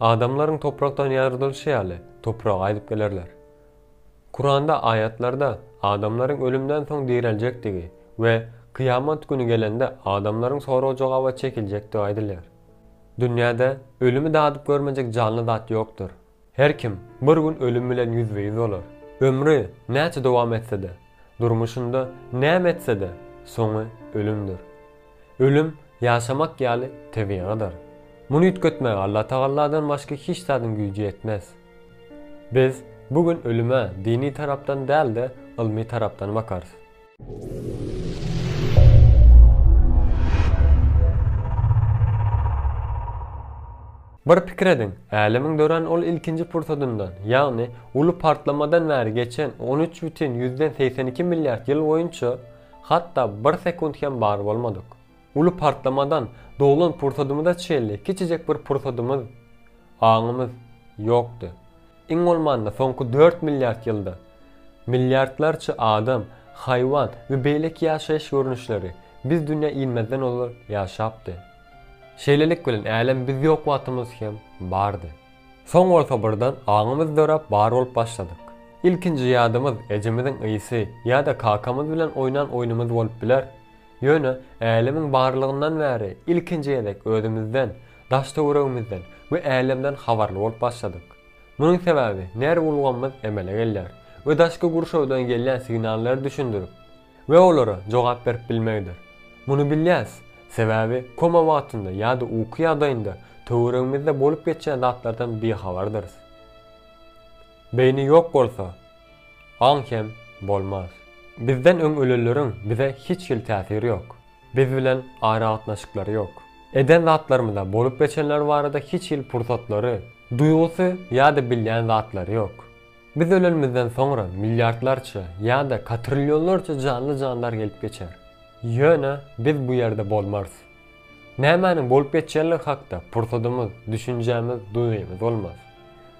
Adamlaryň toprakdan ýaradylyşy ýaly, topraga gaýdyp gelerler. Kuranda aýatlarda adamlaryň ölümden soň direljekdigi we Kyýamat güni gelende adamlaryň sorag-jogaba çekiljekdigi aýdylýar. Dünýäde ölümi dadyp görmejek janly zat ýokdur. Her kim bir gün ölüm bilen ýüzbe-ýüz bolar. Ömri näçe dowam etse-de, durmuşynda näme etse-de, soňy ölümdir. Ölüm ýaşamak ýaly tebigydyr. Muny üýtgetmäge Allatagalladan başga hiç zadyň güýji ýetmez. Biz bu gün ölüme dini tarapdan däl-de, ylmy tarapdan bakarys. Bir pikir ediň, Älemiň dörän ol ilkinji pursadyndan, ýagny uly partlamadan bäri geçen on üç bütin ýüzden segsen iki milliard ýyl boýunça, Hatda bir sekunt hem bar bolmadyk. Uly partlamadan doglan pursadymyza çenli kiçijek bir pursadymyz, aňymyz, ýokdy. Iň bolmanda soňky dört milliard ýylda milliardlarça adam, haýwan we beýleki ýaşaýyş görnüşleri biz dünýä inmezden ozal ýaşapdy. Şeýlelik bilen älem biz ýok wagtymyz hem bardy. Soň bolsa birden aňymyz döräp bar bolup başladyk. Ilkinji ýadymyz ejemiziň ysy ýa-da kakamyz bilen oýnan oýnumyz bolup biler. Ýöne älemiň barlygyndan bäri ilkinji gezek özümizden, daş-töweregimizden we älemden habarly bolup başladyk. Munuň sebäbi nerw ulgamymyz emele gelýär we daşky gurşawdan gelýän signallary düşündirip, We olara jogap berip bilmegidir. Muny bilýäs, sebäbi koma wagtynda ýa-da uky ýagdaýynda töweregimizde bolup geçýän zatlardan bihabardyrys. Beýni ýok bolsa, aň hem bolmaz. Bizden öň ölenleriň bize hiç hili täsiri ýok. Biz bilen aragatnaşyklary ýok. Eden zatlarymyza, bolup geçenler barada hiç hili pursatlary, duýgusy ýa-da bilýän zatlary ýok. Biz ölenimizden soňra milliardlarça ýa-da katrillionlarça janly-jandar gelip geçer. Ýöne biz bu ýerde bolmarys. Nämäniň bolup geçýänligi hakda pursadymyz, düşünjämiz, duýgymyz bolmaz.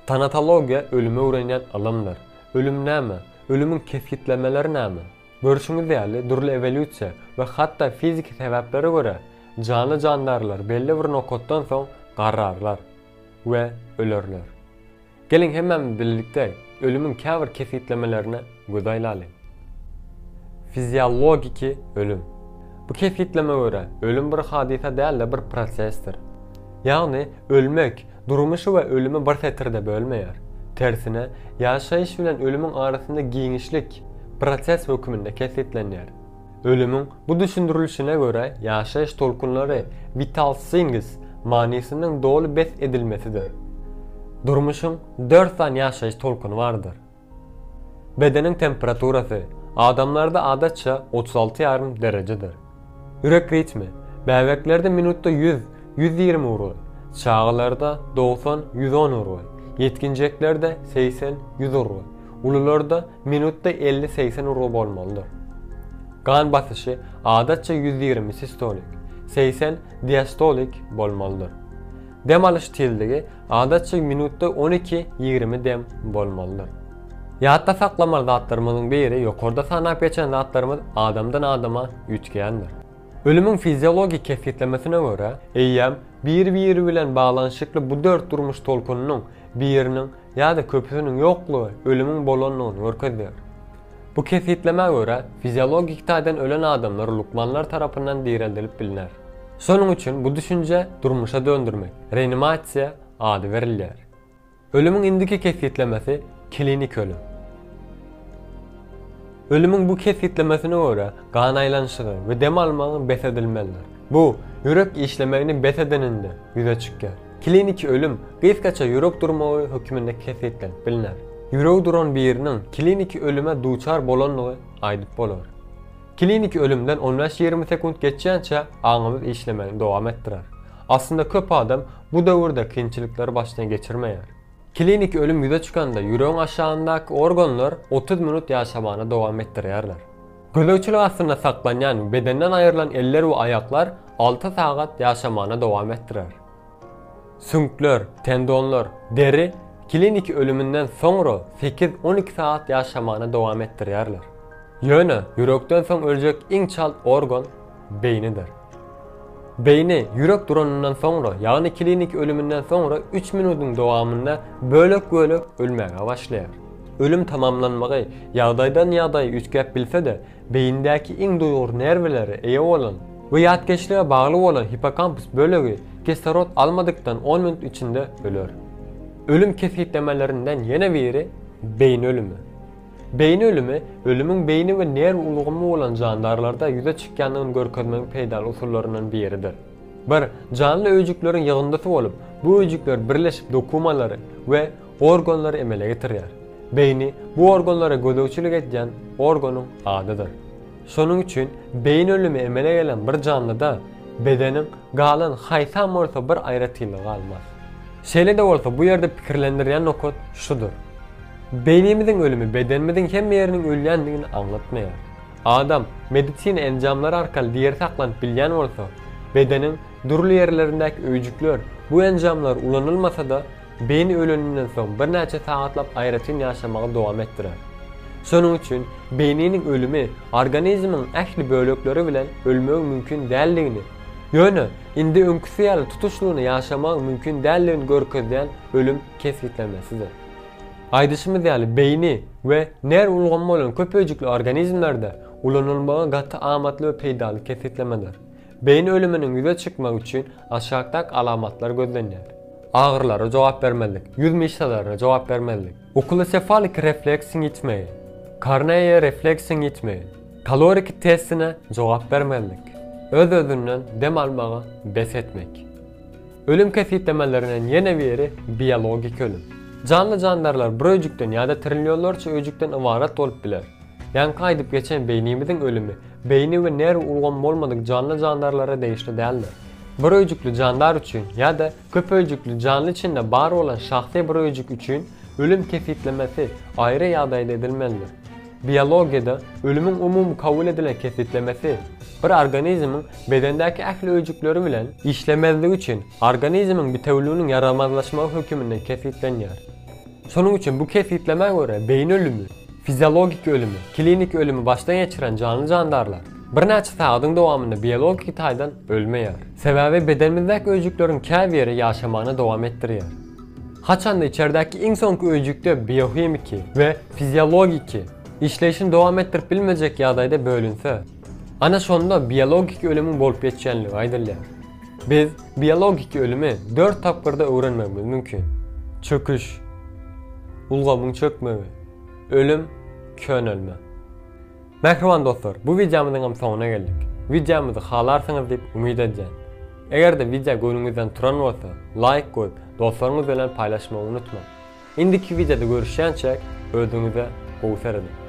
Tanatologiýa ölümi öwrenýän ylymdyr. Ölüm näme? Ölümiň kesgitlemeleri näme? Görşüňiz ýaly, dürli ewolýusiýa we hatda fiziki sebäplere görä, janly-jandarlar belli bir nokatdan soň garrarlar we ölerler. Geliň hemmämiz birlikde ölümiň käbir kesgitlemelerine göz aýlaly. Fiziologiki ölüm. Bu kesgitleme görä, ölüm bir hadysa däl-de bir prosesdir. Ýagny, ölmek, durmuşy we ölümi bir setirde bölmeýär. Tersine, ýaşaýyş bilen ölümiň arasynda giňişlik, proses höküminde kesgitlenýär. Ölümiň bu düşündirilişine görä ýaşaýyş tolkunlary vital things manysynyň doly bes edilmesidir. Durmuşyň dört sany ýaşaýyş tolkuny bardyr. Bedeniň temperaturasy, adamlarda adatça otuz alty ýarym derejedir. Ýürek ritmi, bäbeklerde minutda ýüz, ýüz ýigrimi urgy, çagalarda dogsan, ýüz on urgy, ýetginjeklerde segsen, ýüz urgy, ulularda Minutda elli-segsen urgy bolmalydyr. Gan basyşy adatça ýüz ýigrimi sistolik, segsen diastolik bolmalydyr. Dem alyş tizligi adatça minutda on iki-ýigrimi dem bolmalydyr. Ýatda saklamaly zatlarymyzyň biri ýokarda sanap geçen zatlarymyz adamdan adama üýtgändir. Ölümiň fiziologik kesgitlemesine görä, eýýäm bir-biri bilen baglanyşykly bu dört durmuş tolkunynyň biriniň Ýa-da köpüsiniň ýoklugy ölümiň bolandygyny görkezýär. Bu kesgitlemä görä, fiziologik taýdan ölen adamlar lukmanlar tarapyndan direldilip bilner. Şonuň üçin bu düşünjä durmuşa döndürmek, reanimasiýa, ady berilýär. Ölümiň indiki kesgitlemesi kliniki ölüm. Ölümiň bu kesgitlemesine görä, gan aýlanyşygy we dem almagyň bes edilmelidir. Bu, ýürek işlemegini bes edeninde ýüze çykýar. Kliniki ölüm gysgaça ýürek durmagy hökmünde kesgitlenip bilner. Ýüregi duran biriniň kliniki ölüme duçar bolandygy aýdyp bolar. Kliniki ölümden on bäş-ýigrimi sekunt geçýänçä aňymyz işlemegini dowam etdirer. Aslynda köp adam bu döwürde kynçylyklar başdan geçirmeýär. Kliniki ölüm ýüze çykanda ýüregiň aşagyndaky organlar otuz minut ýaşamany dowam etdirýärler. Gözegçilik astynda saklanýan bedenden aýrylan eller we aýaklar alty sagat ýaşamana dowam etdirer. Süňkler, tendonlar, deri kliniki ölüminden soňra sekiz-on iki sagat ýaşamana dowam etdirýärler. Ýöne ýürekden soň öljek iň çalt organ beýnidir. Beýni, ýürek duranyndan soňra, ýagny kliniki ölüminden soňra üç minudyň dowamynda bölek-bölek ölmäge başlaýar. Ölüm tamamlanmagy ýagdaýdan-ýagdaýa üýtgäp bilse-de, beýindäki iň duýgur nerwlere eýe bolan we ýatkeşlige bagly bolan hippokampus bölegi kislorod almadykdan on minut içinde öler. Ölüm kesgitlemelerinden ýene biri beýni ölümi. Beýni ölümi, ölümiň beýni we nerw ulgamy bolan jandarlarda ýüze çykýandygyny görkezmegiň peýdaly usullaryndan biridir. Bir janly öýjükleriň ýygyndysy bolup, bu öýjükler birleşip dokumalary we organlary emele getirýär. Beýni bu organlara gözegçilik edýän organyň adydyr. Şonuň üçin beýin ölümi emele gelen bir janlyda bedeniň galan haýsam bolsa bir aýratynlygy galmaz. Şeýle-de bolsa bu ýerde pikirlendirýän nokat şudur. Beýnimiziň ölümi bedenimiziň hemme ýeriniň ölýändigini aňlatmaýar. Adam medisina enjamlary arkaly diri saklanyp bilýän bolsa, bedeniň dürli ýerlerindäki öýjükler bu enjamlar ulanylmasa-da Beýni öleninden soň birnäçe sagatlap aýratyn ýaşamagy dowam etdirer. Şonuň üçin beýniniň ölümi organizmiň ähli bölekleri bilen ölmegi mümkin däldigini, ýöne indi öňküsi ýaly tutuşlygyna ýaşamagyň mümkin däldigini görkezýän ölüm kesgitlemesidir. Aýdyşymyz ýaly beýni we nerw ulgamy bolan köp öýjükli organizmlerde ulanylmagy gaty amatly we peýdaly kesgitlemedir. Beýin ölüminiň ýüze çykmagy üçin aşakdaky alamatlar gözlenýär. Agyrylara jogap bermezlik, ýüz myşsalaryna jogap bermezlik, okulosefaliki refleksiň ýitmegi, korneýa refleksiň ýitmegi, kaloriki testine jogap bermezlik, öz-özünden dem almagy bes etmek. Ölüm kesgitlemelerinden ýene biri biologiki ölüm. Janly-jandarlar bir öýjükden ýa-da trilýonlarça öýjükden ybarat bolup biler. Ýaňky aýdyp geçen beýnimiziň ölümi beýni we nerw ulgamy bolmadyk janly-jandarlara degişli däldir. Bir öýjükli jandar üçin ýa-da köp öýjükli janly içinde bar bolan şahsy bir öýjük üçin ölüm kesgitlemesi aýry ýagdaýda edilmelidir. Biologiýada ölümiň umumy kabul edilen kesgitlemesi bir organizmiň bedendäki ähli öýjükleri bilen işlemezligi üçin organizmiň bitewüliginiň ýaramazlaşmagy höküminde kesgitlenýär. Şonuň üçin bu kesgitlemä görä beýin ölümi, fiziologik ölümi, kliniki ölümi başdan geçiren janly-jandarlar birnäçe sagadyň dowamynda biologiki taýdan ölmeýär. Sebäbi bedenimizdäki öýjükleriň käbiri ýaşamany dowam etdirýär. Haçanda içerdäki iň soňky öýjükde biohimiki we fiziologiki işleýşini dowam etdirip bilmejek ýagdaýda bölünse, Ana şonda biologiki ölümiň bolup geçýänligi aýdylýar. Biz biologiki ölümi dört tapgyrda öwrenmegimiz mümkin. Çöküş, ulgamyň çökmegi, ölüm, könelme. Mähriban dostlar, bu wideomyzyňam soňuna geldik. Wideomyzy halarsyňyz diýip umyt edýän. Eger-de wideo göwnüňizden turan bolsa, laýk goýup, dostlaryňyz bilen paýlaşmagy unutmaň. Indiki wideoda görüşýänçäk özüňize gowy serediň.